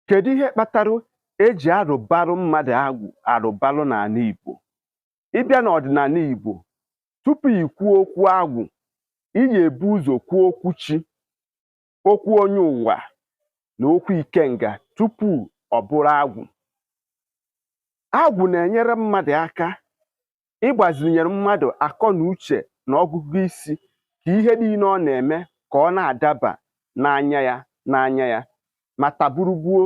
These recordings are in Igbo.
kedu ihe kpatara eji arụbarụ mmadụ agwụ arụbarụ n'ala Igbo ị bịa n'ọdịnala Igbo tupu i kwuo okwu agwụ iyi ebu ụzọ kwuo okwu chi okwu onye ụwa na okwu ikenga tupu ọ bụrụ agwụ agwụ na-enyere mmadụ aka ịgbazinyere mmadụ akọ na uche na ọgụgụ isi ka ihe niile ọ na-eme ka ọ na-adaba n'anya ya n'anya ya ma ta bụrụ gboo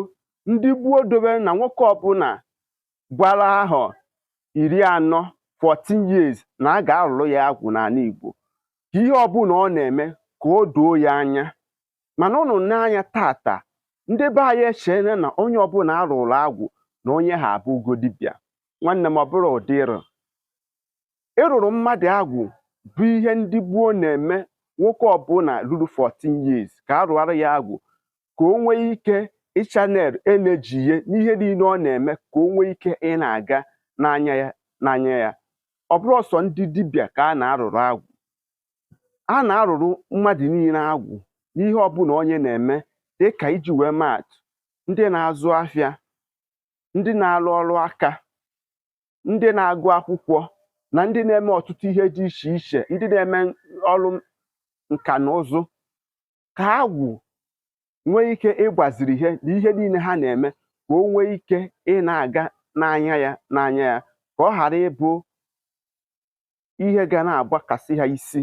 ndị gboo dobere na nwoke ọbụla gbara ahọ iri na anọ 14 years na a ga-arụrụ ya agwụ n'ala Igbo ka ihe ọbụla ọ na-eme ka o doo ya anya mana ụnụ n'anya tata ndị be anyị echeela na onye ọbụla a rụrụ agwụ na onye ahụ abụgo dibịa nwanne m ọ bụrọ ụdị ịrụ ịrụrụ mmadụ agwụ bụ ihe ndị gboo na-eme nwoke ọbụla ruru 14 years ka a rụara ya agwụ ka o nwee ike ịchannel energy ye n'ihe niile ọ na-eme ka o nwee ike ị na-aga n'anya ya n'anya ya ọ bụrọ sọ ndị dibịa ka a na-arụrụ agwụ a na-arụrụ mmadụ niile agwụ n'ihe ọbụla onye na-eme dịka iji wee maa atụ ndị na-azụ afịa ndị na-arụ ọrụ aka ndị na-agụ akwụkwọ na ndị na-eme ọtụtụ ihe dị iche iche ndị na-eme ọrụ nka na ụzụ ka agwụ nwee ike ịgbaziri he na ihe niile ha na-eme ka o nwee ike ị na-aga n'anya ya n'anya ya ka ọ ghara ịbụ ihe ga na-agbakasị ha isi